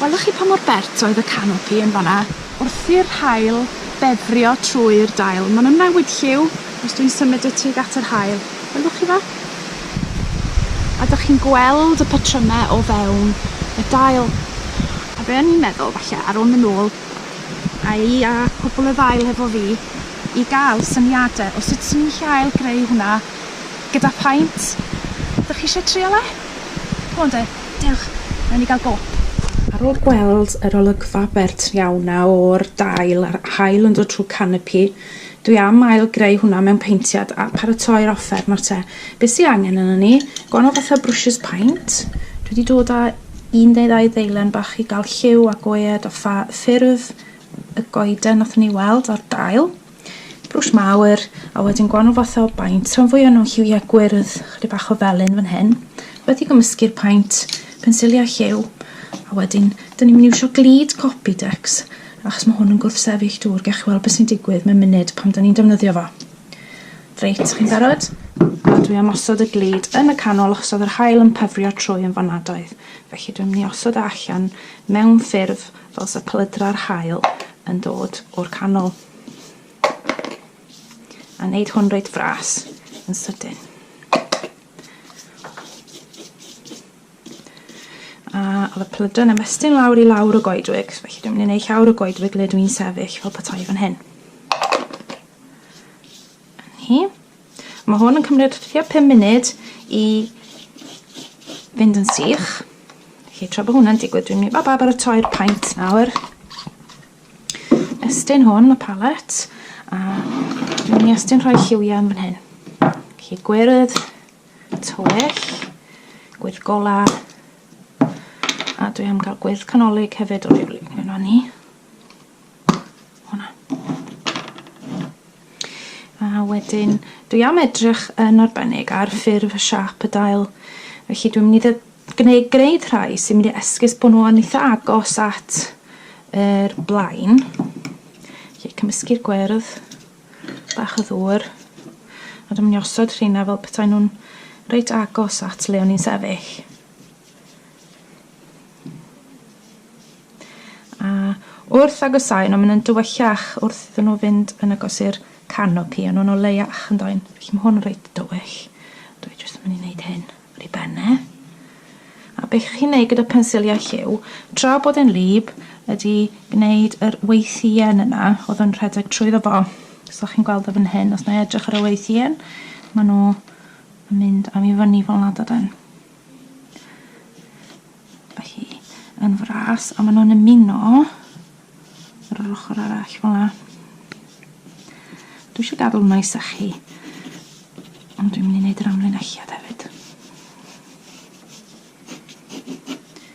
Welwch chi pa mor bert oedd y canopi yn fanna wrth i'r haul befrio trwy'r dail. Maen nhw'n newid lliw os dwi'n symud y tug at yr haul. Welwch chi fe? A dych chi'n gweld y patrymau o fewn y dail. A be o'n i'n meddwl falle ar ôl mynd nôl Ai a pobl y ddail hefo fi i gael syniadau o sut swn i'n gallu ail greu hwnna gyda phaent? Dych chi eisiau trial e? C'mon de, dewch, wnawn ni gael go. Ar ôl gweld yr olygfa bert iawn 'na o'r dail a'r haul yn dod trwy canopi, dwi am ail greu hwnna mewn peintiad a paratoi'r offer, nawr te, be sy angen arnon ni, gwahanol fathau o brwshys paent, dwi 'di dod a Yn dda idda'i ddeilen bach i gael lliw a goed a pha ffurf y goeden nathon ni weld ar dail. Brwsh mawr, a wedyn gwanol fathau o baint, rhan fwya nhw'n lliwiau gwyrdd, chydig bach o felyn fan hyn. Wedi gymysgu'r paint, pensiliau lliw, a wedyn, dyn ni'n mynd i iwsio glid Copidex, achos mae hwn yn gwrthsefyll dŵr, gewch chi weld beth sy'n digwydd mewn munud pan dyn ni'n defnyddio fo. Reit, chi'n barod? A dwi am osod y glud yn y canol achos oedd yr haul yn pyfrio trwy yn fanadoedd. Felly dwi'n mynd i osod e allan mewn ffurf fel sa plydra'r haul yn dod o'r canol. A wneud hwn reit fras yn sydyn. a oedd y plydra'n ymestyn lawr i lawr y goedwig, felly dwi'n mynd i wneud llawr y goedwig le dwi'n sefyll fel petai fan hyn. Hi. Mae hwn yn cymryd tua 5 munud i fynd yn sych. Felly tra bod hwnna'n digwydd, dwi'n mynd i ba baratoi'r paint nawr. Estyn hwn, y palet, a dwi'n mynd i estyn rhoi lliwiau yn fan hyn. Felly gwyrdd, tywyll, gwyrdd gola, a dwi am gael gwyrdd canolig hefyd o rywle. Yna ni. Hwna. A wedyn, dwi am edrych yn arbennig ar ffurf y siap y dail. Felly dwi'n mynd i gwneud gwneud rhai sy'n mynd i esgus bod nhw yn eitha agos at yr blaen. Felly cymysgu'r gwyrdd, bach o ddŵr, a dwi'n mynd i osod rheina fel petai nhw'n reit agos at le o'n i'n sefyll. A wrth agosáu, no, maen nhw'n dywyllach wrth iddyn nhw fynd yn agos i'r canopi, a nhw'n o leiach yn doen. Felly mae hwn yn reit dywyll. Dwi jyst yn mynd i wneud hyn ar ei ben e. A beth chi'n neud gyda pensiliau lliw, tra bod e'n lib, ydy gwneud yr weithien yna, oedd yn rhedeg trwyddo fo. Os ydych chi'n gweld o fan hyn, os na i edrych ar y weithien, maen nhw yn mynd am i fyny fel nad ydyn. Mae hi yn fras a maen nhw'n ymuno ar yr ochr arall fel yna. Dwi eisiau gadw hwnna i sychu. Ond dwi'n mynd i wneud yr amlinelliad hefyd.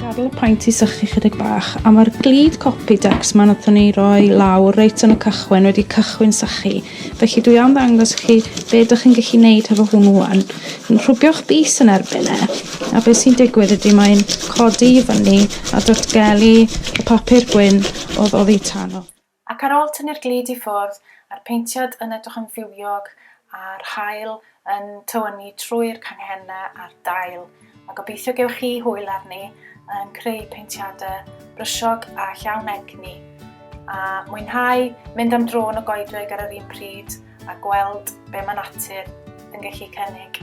Gadl y paent i sychu chydig bach, a mae'r glid copi decs ma'n athon ni roi lawr reit yn y cychwyn wedi cychwyn sychu. Felly dwi am ddangos chi be dych chi'n gallu neud hefo hwn wan. Yn rhwbio'ch bys yn erbyn e, a beth sy'n digwydd ydy mae'n codi i fyny a datgelu y papur gwyn oedd oddi tan o. Ac ar ôl tynnu'r glud i ffwrdd, a'r paentiad yn edrych yn fywiog a'r haul yn tywynnu trwy'r canghennau a'r dail, mae gobeithio gewch chi hwyl arni yn creu paentiadau brysiog a llawn egni, a mwynhau mynd am dro yn y goedwig ar yr un pryd, a gweld be mae natur yn gallu cynnig.